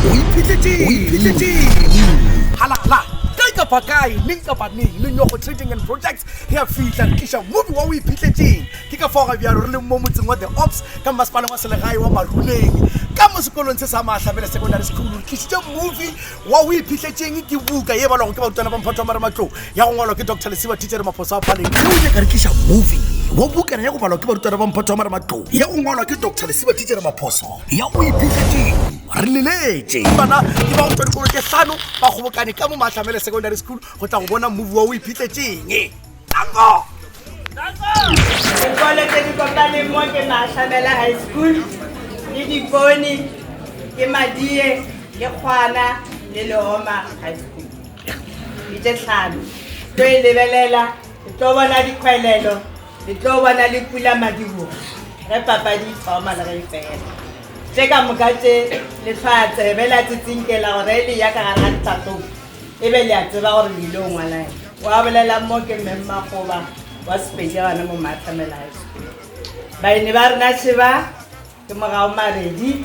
o iphitlhetšehalala kae kapa kae neng kapa neng le nyogo trading and projects re a fihla re tliša mobi wa o iphitlhetšeng ke ka faoga bjalo re leng mo motseng wa the ops ka mmasepaleng wa selegae wa maruleng ka mo sekolong se sa maahlabele secondary school re tlišitše movi wa o iphitlhetšeng ke buka ye balwago ke barutwana ba mphato wa marematlong ya go ngwalwa ke dr lesiba thichere maphoso a paleng o ile ka re tliša movi wa bukana ya go balwa ke barutwana ba mphato wa marematlong ya go ngwalwa ke dr lesiba thichere maphoso ya o iphihletseng re leletše bana ke ba go tšwa dikolo tše hlano ba kgobokane ka mo maatlamele secondary school go tla go bona movi wa o iphihletseng tango dikolo tse di kopaneng mo ke maatlamela high school le dipone ke madie le kgwana le leoma high school di tše tlhano tlo e lebelela tlo bona dikgwelelo Re tlo ba na le pula madibogo ge papadi e thoma le ge e fela. Tše ka moka tše le tla tsebe la tsitsinkela gore e le ya ka gare ga ditlhatlong e be le a tseba gore le ile o ngwalae. Wa bolelang mo ke mme Mmakgoba wa Sepedi gane mo Maatlamelai. Baeni ba rena še ba ke mogao Maredi.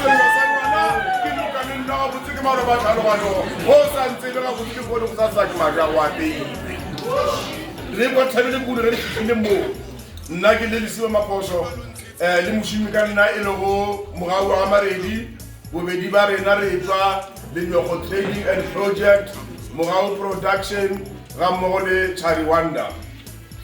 Sello sa ngwana ke noka le nna gabotse ke maloba tlhaloganyo go sa ntse le gabotse ke kgone go sa saki maja go apeile re kwa thabele kudu re le fitlhile moo nna ke le lesiba maphoso um le mošimi ka nna e lego mogau wa ga maredi bobedi ba rena re tswa lenyogo trading and project mogau production ga mmogo le chari wonder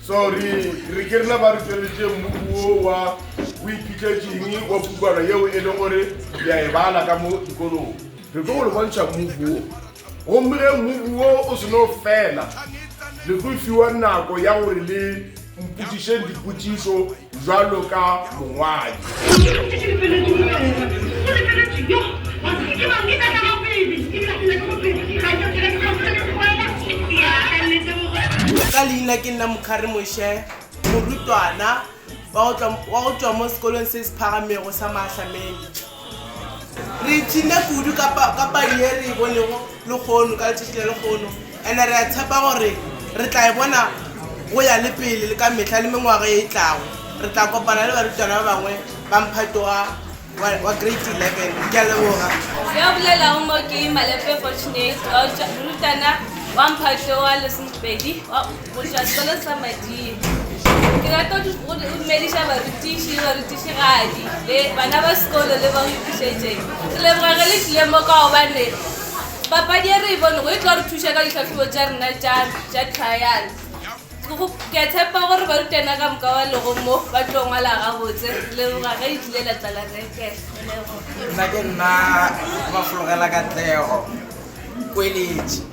so re re ke rena ba re tsweletše mmuku wo wa o iphitletseng wa pukwana yeo e le gore le a e bala ka mo dikolong re tlo go le bontšha mmuku wo gomme ge mmuku wo o seno fela le tlo fiwa nako ya gore le mpotsišeng dipotšišo bjalo ka mongwadi. Ka leina ke nna Mokhari Moshe, morutwana wa go tšwa mo sekolong se se phagamego sa Maahlameni. Re ipshinne kudu ka papadi ye re e bonego lehono ka letšatši la lehono, and re a tshepa gore re tla e bona go ya le pele le ka mehla le mengwaga ye e tlago. Re tla kopana le barutwana ba bangwe ba mphato wa wa Grade 11. Ke a leboga. Yo a bolelago mo ke Malepe Fortunate, wa morutwana wa mphato wa lesomepedi wa. Mojali ba le sa mading. Ke rata go dumediša barutiši, barutišigadi le bana ba sekolo le ba go iphišetšeng. Ke leboga ge le tlile mo ka gobane papadi e re e bonego e tlo re thuša ka ditlhahlobo tša rena tša trial. Ke a tshepa gore barutwana ka moka ba lego mo ba tlo ngwala gabotse. Ke leboga ge e tlile la tla la reke. Nna ke nna Mafologela Katlego, kweletši.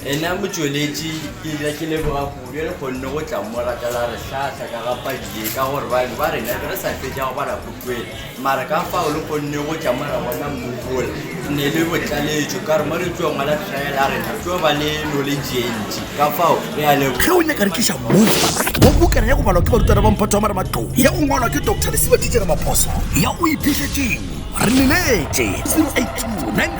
Ena motšweletši ke dira ke leboga kudu e le kgonne go tla mo ratela re hlahla ka ga padi ye ka gore bangwe ba rena be re sa fetša go bala pukwela mara ka fao le kgonne go tla mo ra bona mmubola ne le botlaletšo ka re mo le tlo ngwala trial a rena tlo ba le knowledge ye ntši ka fao re a leboga ge o nyaka re tliša mo mo bukana ya go balwa ke barutwana ba mphato wa mara matlou ya go ngwalwa ke dr lesiba titšere maphoso ya o iphišetšeng re leletše 082